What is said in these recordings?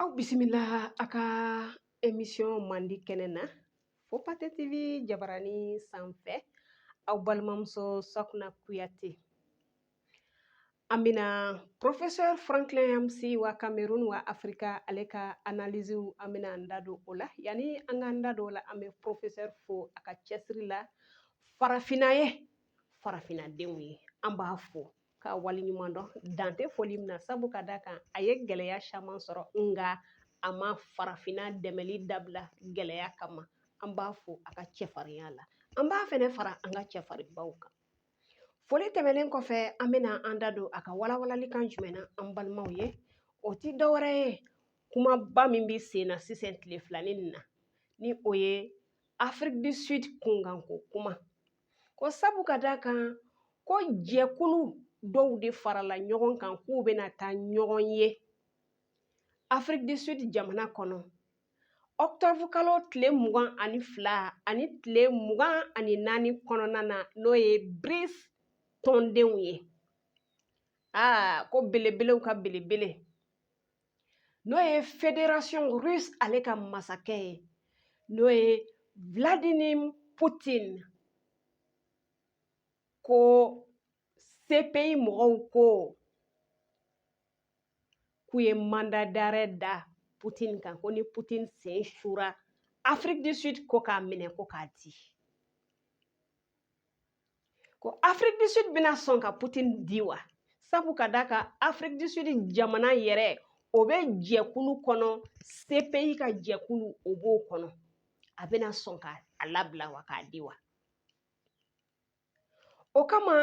aw bisimila a ka emisiyɔn mandi kɛnɛ na fo pate tv jabarani sanfɛ aw balimamuso sakuna kuyate an bɛna professeur franklin nyamsi wa kamerun wa afirika ale ka analysew an bɛna an da don o la yanni an k'an da don o la an bɛ professeur fo a ka cɛsiri la farafinna ye farafinadenw ye an b'a fo ka wali ɲuman dɔn dan tɛ foli min na sabu ka d'a kan a ye gɛlɛya caman sɔrɔ nka a ma farafinna dɛmɛli dabila gɛlɛya kama an b'a fo a ka cɛfarinya la an b'a fɛnɛ fara an ka cɛfarinbaw kan foli tɛmɛnen kɔfɛ an bɛna an da don a ka walawalali kan jumɛn na an balimaw ye o ti dɔwɛrɛ ye kumaba min bɛ sen na sisan tile filanin nin na ni o ye afiriki du sud kunkanko kuma ko sabu ka d'a kan ko jɛkulu dɔw de farala ɲɔgɔn kan k'u bɛna taa ɲɔgɔn ye afiriki du sud jamana kɔnɔ ɔkutɔburu kalo tile mugan ani fila ani tile mugan ani naani kɔnɔna na n'o ye brics tɔndenw ye aa ko belebelew ka belebele n'o ye federasiyɔn rusi ale ka masakɛ ye n'o ye vladimir putin ko cpi mɔgɔw ko k'u ye mandat d'arrêt da putin kan ko ni putin sen sura afiriki du sud ko k'a minɛ ko k'a di ko afiriki du sud bɛna sɔn ka putin di wa sabu ka d'a kan afiriki du sud jamana yɛrɛ o bɛ jɛkulu kɔnɔ cpi ka jɛkulu o b'o kɔnɔ a bɛna sɔn ka a labila wa k'a di wa o kama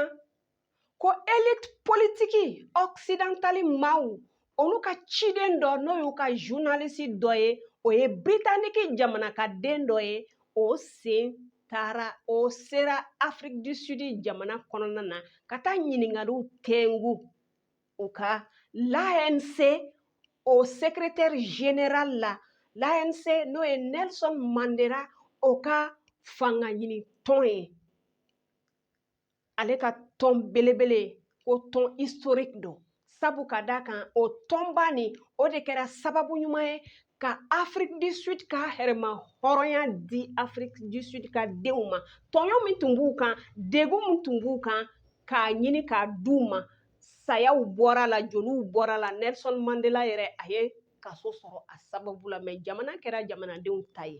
ko elite politiki ɔksidantali maaw olu ka ciden dɔ n'o y'u ka journaliste dɔ ye o ye britaniki jamana ka den dɔ ye o sen taara o sera afiriki du sud jamana kɔnɔna na ka taa ɲininkaliw tɛngu u ka l'anc o sekretɛri general la l'anc n'o ye nelson mandela o ka fanga ɲini tɔn ye ale ka tɔn belebele ko tɔn historique don sabu ka d'a kan o tɔnba nin o de kɛra sababu ɲuman ye ka afiriki du sud ka yɛrɛmahɔrɔnya di afiriki du sud ka denw ma tɔɲɔ min tun b'u kan degun min tun b'u kan k'a ɲini k'a d'u ma sayaw bɔra la joliw bɔra la nelson mandela yɛrɛ a ye kaso sɔrɔ a sababu la mɛ jamana kɛra jamanadenw ta ye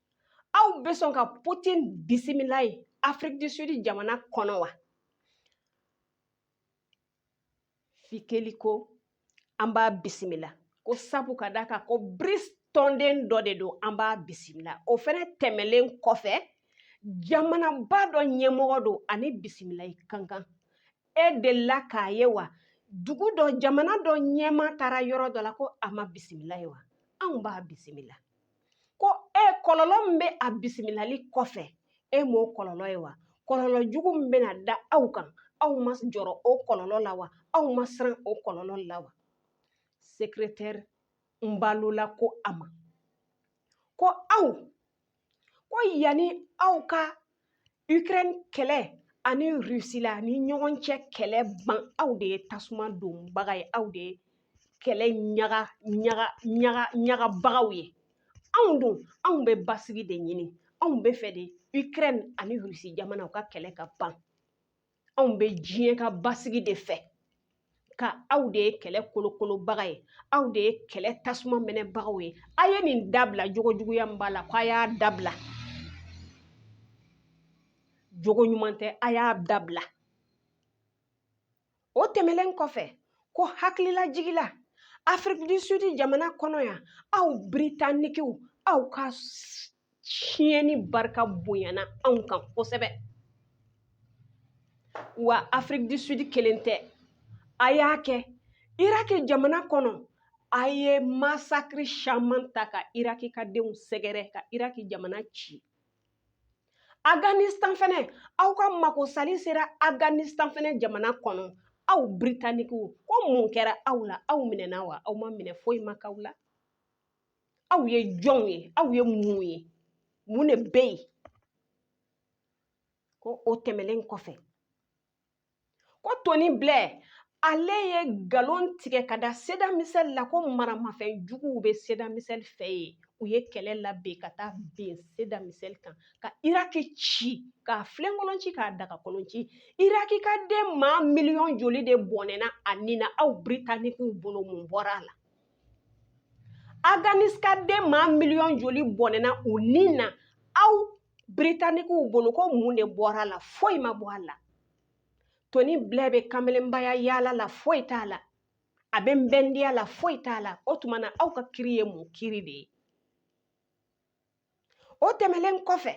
aw bɛ sɔn ka putin bisimila ye afiriki du sud jamana kɔnɔ wa fikeli ko an b'a bisimila ko sabu ka d'a kan ko brics tɔnden dɔ de don an b'a bisimila o fɛnɛ tɛmɛlen kɔfɛ jamanaba dɔ ɲɛmɔgɔ don a ni bisimilali ka kan e delila k'a ye wa dugu dɔ jamana dɔ ɲɛmaa taara yɔrɔ dɔ la ko a ma bisimila ye wa anw b'a bisimila ko e kɔlɔlɔ min bɛ a bisimilali kɔfɛ e m'o kɔlɔlɔ ye wa kɔlɔlɔ jugu min bɛna da aw kan aw ma jɔrɔ o kɔlɔlɔ la wa aw ma siran o kɔlɔlɔ la wa sekretɛri mbalula ko a ma ko aw ko yanni aw ka ukraine kɛlɛ ani rusi la ni ɲɔgɔn cɛ kɛlɛ ban aw de ye tasuma donbaga ye aw de ye kɛlɛ ɲagaɲagabagaw ye anw dun anw bɛ basigi de ɲini anw bɛ fɛ de ukraine ani rusi jamana u ka kɛlɛ ka ban anw bɛ diɲɛ ka basigi de fɛ nka aw de ye kɛlɛ kolokolobaga ye aw de ye kɛlɛ tasuma mɛnɛbagaw ye a ye nin dabila jogo juguya min b'a la ko a y'a dabila jogo ɲuman tɛ a y'a dabila o tɛmɛlen kɔfɛ ko hakililajigi la afiriki du sud jamana kɔnɔ yan aw britanikiw aw ka tiɲɛni barika bonyana anw kan kosɛbɛ wa afiriki du sud kelen tɛ a y'a kɛ iraki jamana kɔnɔ a ye masakiri caman ta ka iraki ka denw sɛgɛrɛ ka iraki jamana ci afghanistan fɛnɛ aw ka makosali sera afghanistan fɛnɛ jamana kɔnɔ aw britanikiw ko mun kɛra aw la aw minɛna wa aw ma minɛ foyi ma k'aw la aw ye jɔnw ye aw ye mun ye mun de bɛ yen ko o tɛmɛlen kɔfɛ ko toni blɛ ale ye nkalon tigɛ ka da saddam hussein la ko maramafɛn juguw bɛ saddam hussein fɛ yen u ye kɛlɛ labɛn ka taa bin saddam hussein kan ka iraki ci k'a filenkolon ci k'a dagakolon ci iraki ka den maa miliyɔn joli de bɔnɛna a ni na aw britanikiw bolo mun bɔra a la afghanistan ka den maa miliyɔn joli bɔnɛna u ni na aw britanikiw bolo ko mun de bɔra a la foyi ma bɔ a la toni bilɛ bɛ kamelenbaya yaala la foyi t'a la a bɛ nbɛndiya la foyi t'a la o tuma na aw ka kiri ye mun kiri de ye o tɛmɛlen kɔfɛ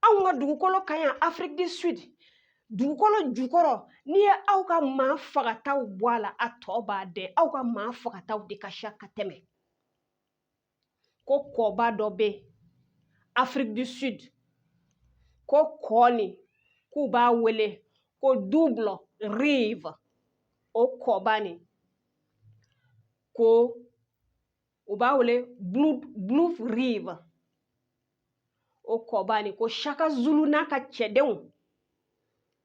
anw ka dugukolo ka ɲi afiriki du sud dugukolo jukɔrɔ n'i ye aw ka maa fagataw bɔ a la a tɔ b'a dɛn aw ka maa fagataw de ka ca ka tɛmɛ ko kɔba dɔ bɛ afiriki du sud ko kɔ nin k'u b'a wele ko double rive o kɔba nin ko u b'a wele blood river o kɔba nin ko shaka zulu n'a ka cɛdenw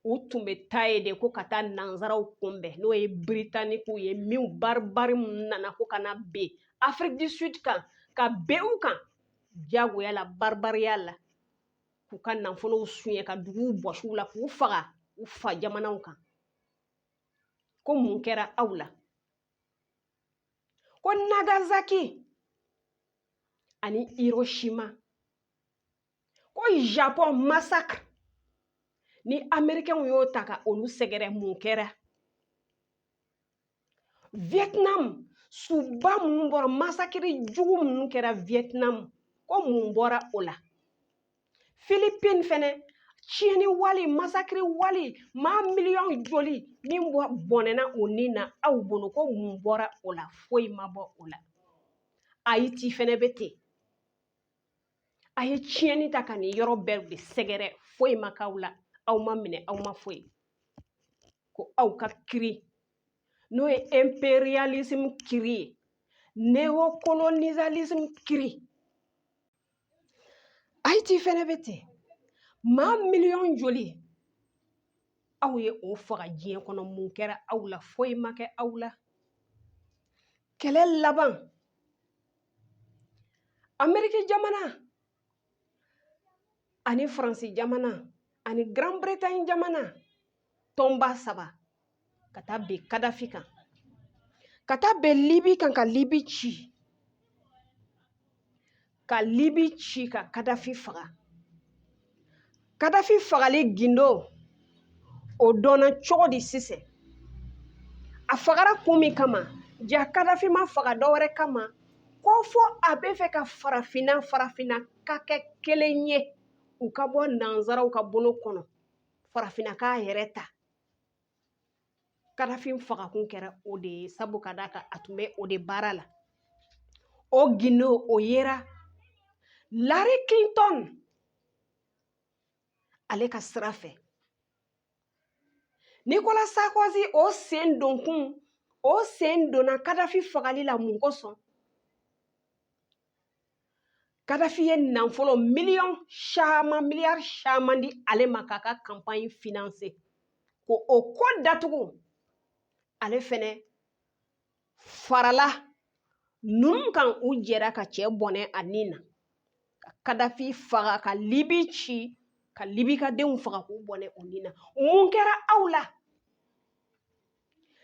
u tun bɛ taa yen de ko ka taa nanzaraw kunbɛn n'o ye biritanikiw ye minnu baribari nana ko ka na ben afiriki du sud kan ka ben u kan diyagoya la baribariya la k'u ka nafolow suɲɛ ka duguw bɔsi u la k'u faga u fa jamanaw kan ko mun kɛra aw la ko nagasaki ani hiroshima ko japon masakiri ni amerikɛnw y'o ta ka olu sɛgɛrɛ mun kɛra vietnam suba minnu bɔra masakiri jugu minnu kɛra vietnam ko mun bɔra o la filipini fɛnɛ tiɲɛni wale masakiri wale maa miliyɔn joli min bɔnɛna u ni na aw bolo ko mun bɔra o la foyi ma bɔ o la ayiti fɛnɛ bɛ ten a ye tiɲɛni ta ka nin yɔrɔ bɛɛ de sɛgɛrɛ foyi ma k'aw la aw ma minɛ aw ma foyi ko aw ka kiri n'o ye imperialism kiri ye neocolonialism kiri ayiti fɛnɛ bɛ ten maa miliyɔn joli aw ye o faga diɲɛ kɔnɔ mun kɛra aw la foyi ma kɛ aw la kɛlɛ laban ameriki jamana ani faransi jamana ani grand bretagne jamana tɔnba saba ka taa ben kadafi kan ka taa ben libi kan ka libi ci ka libi ci ka kadafi faga kadafi fagali gindo o dɔnna cogo di sisan a fagara kun min kama ja kadafi ma faga dɔwɛrɛ kama ko fɔ a bɛ fɛ ka farafinna farafinna ka kɛ kelen ye u ka bɔ nanzaraw ka bolo kɔnɔ farafinna k'a yɛrɛ ta kadafi fagakun kɛra o de ye sabu ka d'a kan a tun bɛ o de baara la o gindo o yera hillary clinton ale ka sira fɛ nikola sarkozy o sen donkun o sen donna kadafi fagali la mun kosɔn kadafi ye nanfolo miliyɔn caman miliyari caman di ale ma k'a ka kanpaɲi finanse ko o ko datugu ale fɛnɛ farala ninnu kan u jɛra ka cɛ bɔnɛ a ni na ka kadafi faga ka libi ci ka libi ka denw faga k'u bɔnɛ u ni na mun kɛra aw la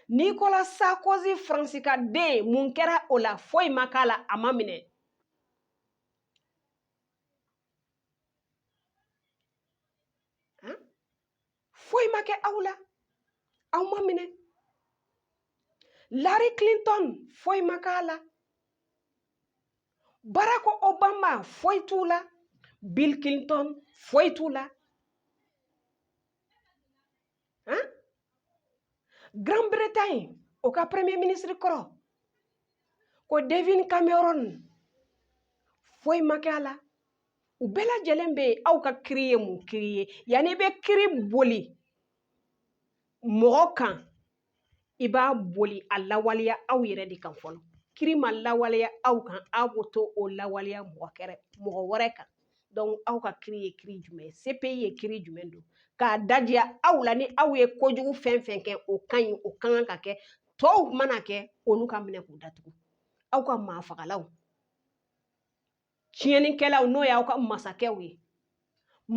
Nicolas Sarkozy Faransi ka den mun kɛra o la foyi ma k'a la a ma minɛ foyi ma kɛ aw la aw ma minɛ Hillary Clinton foyi ma k'a la Barack Obama foyi t'u la Bill Clinton foyi t'u la ah Grande Bretagne o ka premier ministre kɔrɔ ko David Cameron foyi ma kɛ a la u bɛɛ lajɛlen bɛ yen aw ka kiri ye mun kiri ye yanni i bɛ kiri boli mɔgɔ kan i b'a boli a lawaleya aw yɛrɛ de kan fɔlɔ kiri ma lawaleya aw kan aw b'o to o lawaleya mɔgɔ kɛrɛ mɔgɔ wɛrɛ kan donc aw ka kiri ye kiri jumɛn CPI ye kiri jumɛn don k'a dajiya aw la ni aw ye kojugu fɛn fɛn kɛ o ka ɲi o ka kan ka kɛ tɔw mana kɛ olu ka minɛ k'u datugu aw ka maafagalaw tiɲɛnikɛlaw n'o y'aw ka masakɛw ye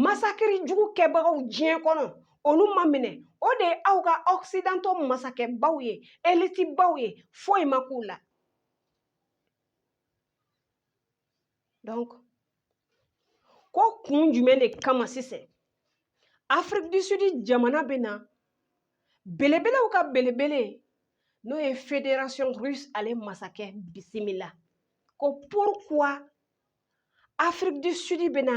masakiri jugu kɛbagaw diɲɛ kɔnɔ olu ma minɛ o de ye aw ka occidentaux masakɛbaw ye elitibaw ye foyi ma k'u la donc ko kun jumɛn de kama sisan Afrique du Sud jamana bɛ na belebelew ka belebele n'o ye fédération russe ale masakɛ bisimila ko pourquoi Afrique du Sud bɛ na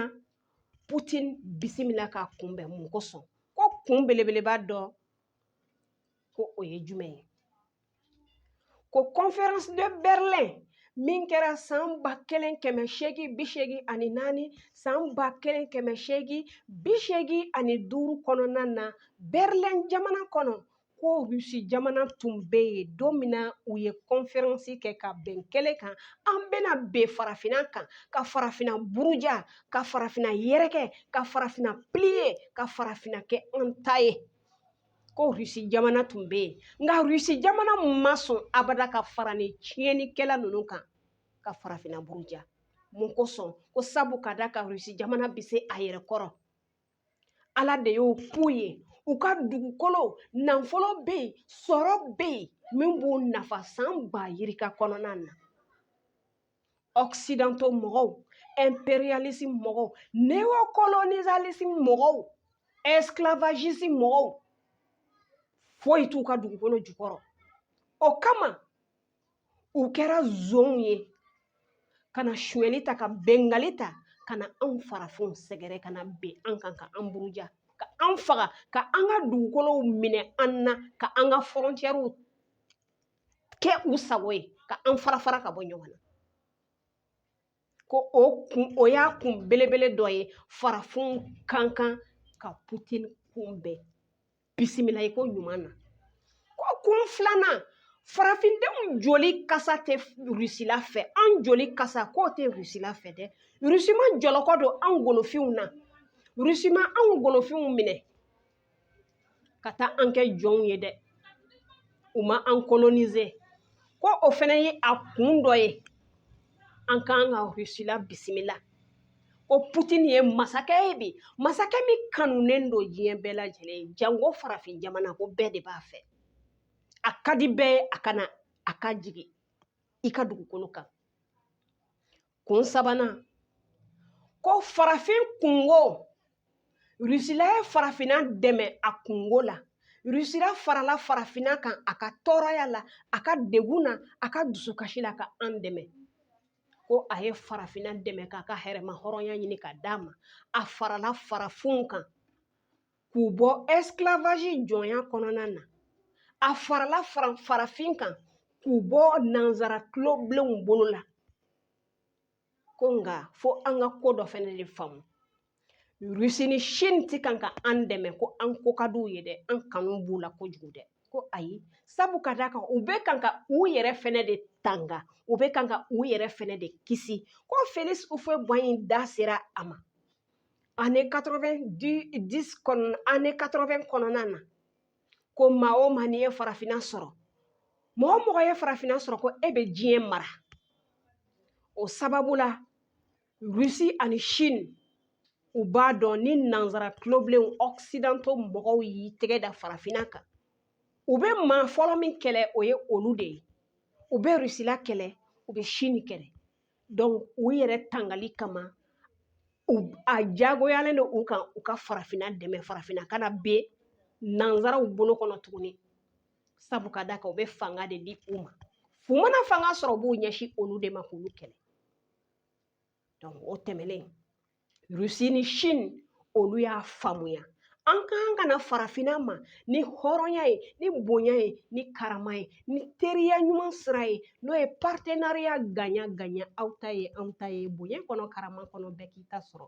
Putin bisimila k'a kunbɛn mun kosɔn ko kun belebeleba dɔ ko o ye jumɛn ye ko conférence de Berlin min kɛra san ba kelen kɛmɛ seegin bi seegin ani naani san ba kelen kɛmɛ seegin bi seegin ani duuru kɔnɔna na Berlin jamana kɔnɔ ko rusi jamana tun bɛ yen don min na u ye kɔnferansi kɛ ka bɛn kelen kan an bɛna bin farafinna kan ka farafinna buruja ka farafinna yɛrɛkɛ ka farafinna piliye ka farafinna kɛ an ta ye ko rusi jamana tun bɛ yen nka rusi jamana ma sɔn abada ka fara ni tiɲɛnikɛla ninnu kan ka farafinna buruja mun kosɔn ko sabu ka d'a kan rusi jamana bɛ se a yɛrɛ kɔrɔ ala de y'o k'u ye u ka dugukolo nafolo bɛ yen sɔrɔ bɛ yen min b'u nafa san ba yirika kɔnɔna na occidentaux mɔgɔw impérialisme mɔgɔw néocolonialisme mɔgɔw esclavagisme mɔgɔw foyi t'u ka dugukolo jukɔrɔ o kama u kɛra zonw ye ka na sonyali ta ka binkanli ta ka na anw farafinw sɛgɛrɛ ka na bin an kan ka an buruja ka an faga ka an ka dugukolow minɛ an na ka an ka fɔrɔncɛriw kɛ u sago ye ka an fara fara ka bɔ ɲɔgɔn na ko o y'a kun belebele dɔ ye farafinw ka kan ka putin kunbɛn bisimila i ko ɲuman na ko kun filanan farafindenw joli kasa tɛ rusila fɛ an joli kasa k'o tɛ rusila fɛ dɛ rusi ma jɔlɔkɔ don an golofinw na rusi ma anw golofinw minɛ ka taa an kɛ jɔnw ye dɛ u ma an kolonize ko o fana ye a kun dɔ ye an ka kan ka rusila bisimila ko putini ye masakɛ ye bi masakɛ min kanunen don diɲɛ bɛɛ lajɛlen ye janko farafin jamana ko bɛɛ de b'a fɛ a ka di bɛɛ ye a ka na a ka jigin i ka dugukolo kan kun sabanan ko farafin kunko rusila ye farafinna dɛmɛ a kunko la rusila farala farafinna kan a ka tɔɔrɔya la a ka degun na a ka dusukasi la ka an dɛmɛ ko a ye farafinna dɛmɛ k'a ka yɛrɛmahɔrɔnya ɲini k'a d'a ma a farala farafinw kan k'u bɔ esclavage jɔnya kɔnɔna na a farala farafin kan k'u bɔ nanzara tuloblenw bolo la ko nka fo an ka ko dɔ fɛnɛ de faamu rusi ni chine ti kan ka an dɛmɛ ko an ko ka d'u ye dɛ an kanu b'u la kojugu dɛ ko ayi sabu ka d'a kan u bɛ kan ka u yɛrɛ fɛnɛ de tanga u bɛ kan ka u yɛrɛ fɛnɛ de kisi ko felix houphouët boigny da sera a ma année année 80 kɔnɔna na ko maa o maa n'i ye farafinna sɔrɔ mɔgɔ o mɔgɔ ye farafinna sɔrɔ ko e bɛ diɲɛ mara o sababu la rusi ani chine u b'a dɔn ni nanzara tulobilenw occidentaux mɔgɔw y'i tɛgɛ da farafinna kan u bɛ maa fɔlɔ min kɛlɛ o ye olu de ye u bɛ rusila kɛlɛ u bɛ chine kɛlɛ donc u yɛrɛ tangali kama a jagoyalen don u kan u ka farafinna dɛmɛ farafinna kana bin nanzaraw bolo kɔnɔ tuguni sabu ka d'a kan u bɛ fanga de di u ma u mana fanga sɔrɔ u b'u ɲɛsin olu de ma k'olu kɛlɛ o tɛmɛnen rusi ni sini olu y'a faamuya an ka kan ka na farafinna ma ni hɔrɔnya ye ni bonya ye ni karama ye ni teriya ɲuman sira ye n'o ye partenariat gagnant gagnant aw ta ye anw ta ye bonya kɔnɔ karama kɔnɔ bɛɛ k'i ta sɔrɔ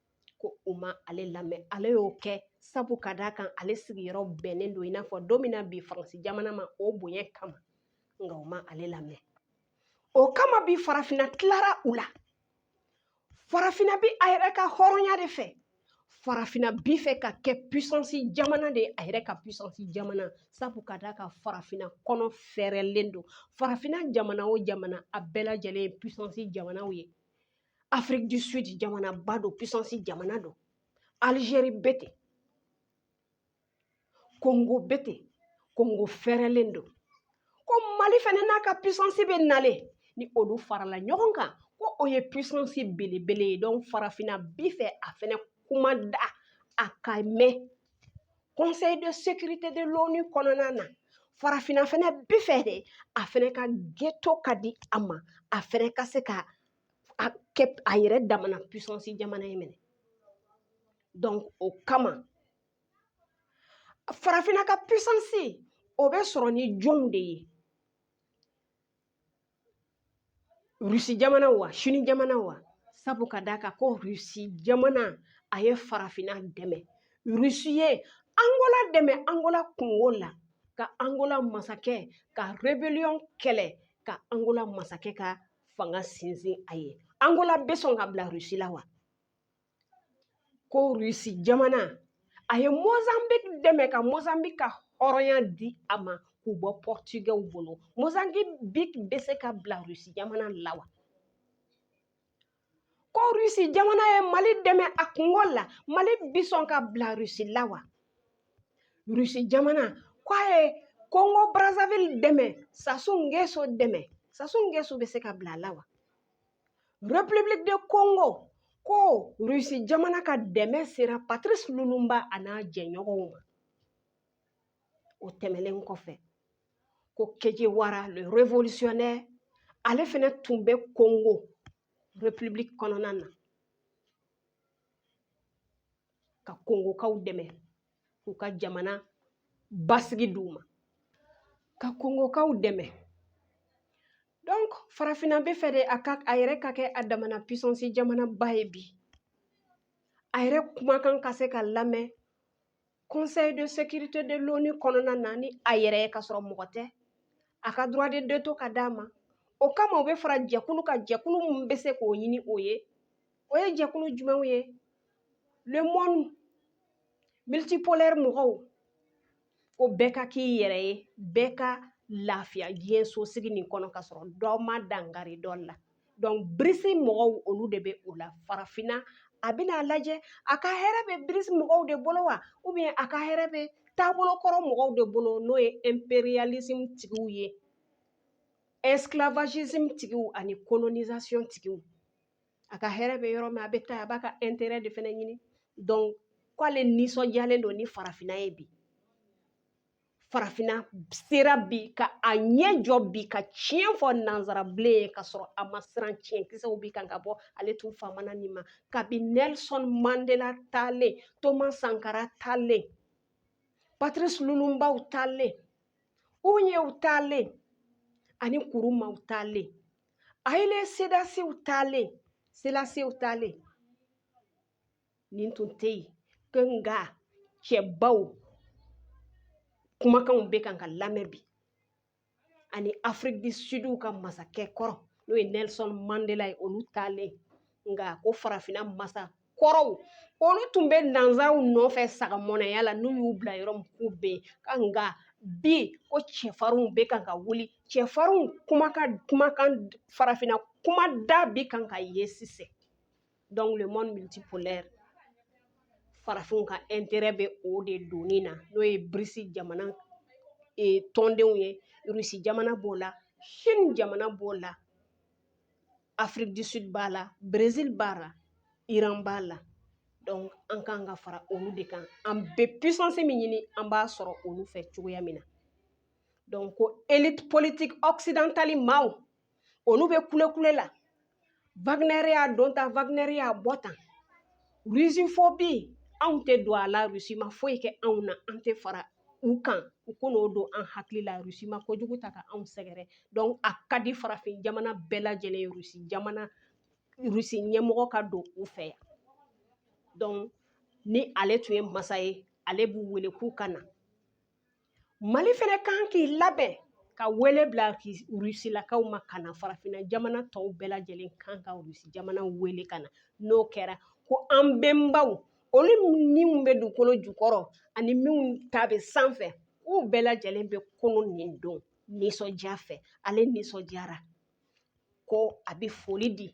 ko u ma ale lamɛn ale y'o kɛ sabu ka d'a kan ale sigiyɔrɔ bɛnnen don i n'a fɔ don min na bi faransi jamana ma o bonya kama nka u ma ale lamɛn o kama bi farafinna tilara u la farafinna bi a yɛrɛ ka hɔrɔnya de fɛ farafinna bi fɛ ka kɛ puissance jamana de ye a yɛrɛ ka puissance jamana sabu ka d'a kan farafinna kɔnɔ fɛɛrɛlen don farafinna jamana o jamana a bɛɛ lajɛlen ye puissance jamanaw ye afrique du sud jamanaba don puissance jamana don alizeri bɛ ten kongo bɛ ten kongo fɛrɛlen don ko mali fɛnɛ n'a ka puissance bɛ nalen ni olu farala ɲɔgɔn kan ko o ye puissance belebele ye donc farafinna bi fɛ a fɛnɛ kuma da a ka mɛn conseil de sécurité de l'onu kɔnɔna na farafinna fɛnɛ bi fɛ de a fɛnɛ ka veto ka di a ma a fɛnɛ ka se ka a kɛ a yɛrɛ damana puissance jamana ye minɛ donc o kama farafinna ka puissance o bɛ sɔrɔ ni jɔnw de ye rusi jamana wa sini jamana wa sabu ka d'a kan ko rusi jamana a ye farafinna dɛmɛ rusi ye angola dɛmɛ angola kunko la ka angola masakɛ ka rebellion kɛlɛ ka angola masakɛ ka fanga sinsin a ye angola bɛ sɔn ka bila rusi la wa ko rusi jamana a ye mozambique dɛmɛ ka mozambique ka hɔrɔnya di a ma k'u bɔ pɔrtugɛw bolo mozambique bɛ se ka bila rusi jamana la wa ko rusi jamana ye mali dɛmɛ a kunko la mali bi sɔn ka bila rusi la wa rusi jamana ko a ye kongo brazzaville dɛmɛ sassou nguesso dɛmɛ sassou nguesso bɛ se ka bila a la wa république de congo ko rusi jamana ka dɛmɛ sera patrice lumumba a n'a jɛɲɔgɔnw ma o tɛmɛlen kɔfɛ ko che guevara le révolutionnaire ale fɛnɛ tun bɛ congo république kɔnɔna na ka kongokaw dɛmɛ k'u ka jamana basigi d'u ma ka kongokaw dɛmɛ donc farafinna b'a fɛ de a ka a yɛrɛ ka kɛ a damana puissance jamanaba ye bi a yɛrɛ kumakan ka se ka lamɛn conseil de sécurité de l'ONU kɔnɔna na ni a yɛrɛ ye ka sɔrɔ mɔgɔ tɛ a ka droit de veto ka d'a ma o kama u bɛ fara jɛkulu kan jɛkulu min bɛ se k'o ɲini o ye o ye jɛkulu jumɛnw ye le monde multipolaire mɔgɔw ko bɛɛ ka k'i yɛrɛ ye bɛɛ ka lafiya diɲɛ sosigi nin kɔnɔ ka sɔrɔ dɔ ma dangari dɔ la donc BRICS mɔgɔw olu de bɛ o la farafinna a bɛna a lajɛ a ka hɛrɛ bɛ BRICS mɔgɔw de bolo wa ou bien a ka hɛrɛ bɛ taabolo kɔrɔ mɔgɔw de bolo n'o ye impérialisme tigiw ye esclavagisme tigiw ani colonisation tigiw a ka hɛrɛ bɛ yɔrɔ min a bɛ taa a b'a ka intérêt de fɛnɛ ɲini donc k'ale nisɔndiyalen don ni farafinna ye bi farafinna sera bi ka a ɲɛ jɔ bi ka tiɲɛ fɔ nanzara bilen ye ka sɔrɔ a ma siran tiɲɛ kisɛw bi kan ka bɔ ale tun famana nin ma kabi nelson mandela taalen thomas sankara taalen patrice lumumbaw taalen u ɲɛw taalen ani nkrumahw taalen Haile selassiew taalen selassiew taalen nin tun tɛ yen ko nka cɛbaw kumakanw bɛ kan ka lamɛn bi ani afrique du sudw ka masakɛ kɔrɔ n'o ye nelson mandela ye olu taalen nka ko farafinna masa kɔrɔw olu tun bɛ nanzaraw nɔfɛ sagamɔnɛya la n'u y'u bila yɔrɔ min k'u bɛ yen nka bi ko cɛfarinw bɛ kan ka wuli cɛfarinw kumakan kumakan farafinna kuma da bi kan ka ye sisan donc le monde multipolaire farafinw ka intérêt bɛ o de donni na n'o ye BRICS jamana tɔndenw ye rusi jamana b'o la chine jamana b'o la afrique du sud b'a la brésil b'a la iran b'a la donc an kan ka fara olu de kan an bɛ puissance min ɲini an b'a sɔrɔ olu fɛ cogoya min na donc ko élite politique occidentale maaw olu bɛ kulekule la Wagner y'a don tan Wagner y'a bɔ tan russophobie anw tɛ don a la Russie ma foyi kɛ anw na an tɛ fara u kan u kunko don an hakili la rusi ma kojugu ta ka anw sɛgɛrɛ donc a ka di farafin jamana bɛɛ lajɛlen ye rusi jamana rusi ɲɛmɔgɔ ka don u fɛ yan donc ni ale tun ye masa ye ale b'u wele k'u ka na mali fɛnɛ kan k'i labɛn ka wele bila rusilakaw ma ka na farafinna jamana tɔw bɛɛ lajɛlen kan ka rusi jamana wele ka na n'o kɛra ko an bɛnbaw olu minnu bɛ dugukolo jukɔrɔ ani minnu ta bɛ sanfɛ k'u bɛɛ lajɛlen bɛ kunun nin don nisɔndiya fɛ ale nisɔndiyara ko a bɛ foli di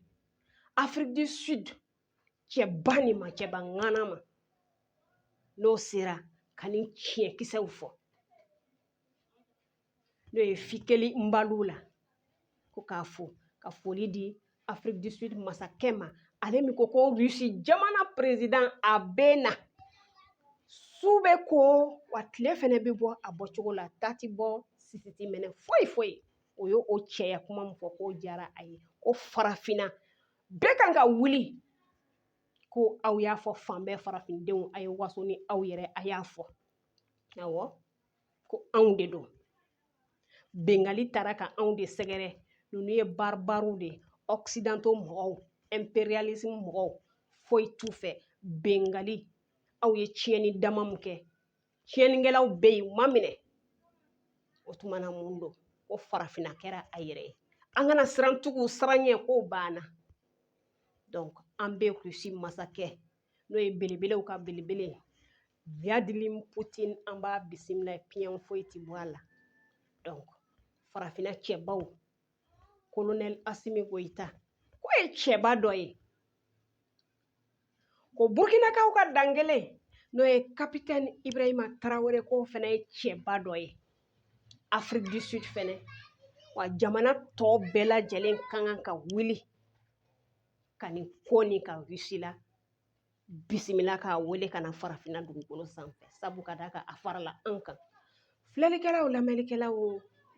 afiriki du sud cɛba nin ma cɛba ŋana ma n'o sera ka nin tiɲɛkisɛw fɔ n'o ye fikeli mbalula ko k'a fo ka foli di afiriki du sud masakɛ ma ale min ko ko rusi jamana perezidan a bɛ na su bɛ ko wa tile fɛnɛ bɛ bɔ a bɔcogo la ta ti bɔ sisi ti minɛ foyi foyi o ye o cɛya kuma min fɔ k'o diyara a ye ko farafinna bɛɛ kan ka wuli ko aw y'a fɔ fan bɛɛ farafindenw a ye waso ni aw yɛrɛ a y'a fɔ awɔ ko anw de don bengali taara ka anw de sɛgɛrɛ ninnu ye baribariw de ye ɔkisidanto mɔgɔw ɛnperiyalismu mɔgɔw foyi t'u fɛ bengali aw ye tiɲɛni dama min kɛ tiɲɛnikɛlaw bɛ yen u ma minɛ o tuma na mun don ko farafinna kɛra a yɛrɛ ye an kana siran tugu siranɲɛ ko banna donc an bɛ rusi masakɛ n'o ye belebelew ka belebele vladimir putin an b'a bisimila piyɛn foyi ti bɔ a la donc farafinna cɛbaw kolonɛli asimi goyita k'o ye cɛba dɔ ye ko burkinakaw ka dankelen n'o ye kapitɛni ibrahima tarawele k'o fɛnɛ ye cɛba dɔ ye afiriki du sud fɛnɛ wa jamana tɔ bɛɛ lajɛlen ka kan ka wuli ka nin ko nin ka rusi labisimila k'a wele ka na farafinna dugukolo sanfɛ sabu ka d'a kan a farala an kan filɛlikɛlaw lamɛnlikɛlaw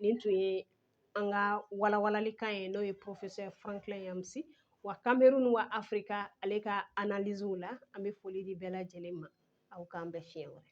nin tun ye an ka walawalalikan ye n'o ye professeur franklin nyamsi wa cameroun wa afrika ale ka analysew la an bɛ foli di bɛɛ lajɛlen ma aw k'an bɛn fiɲɛ wɛrɛ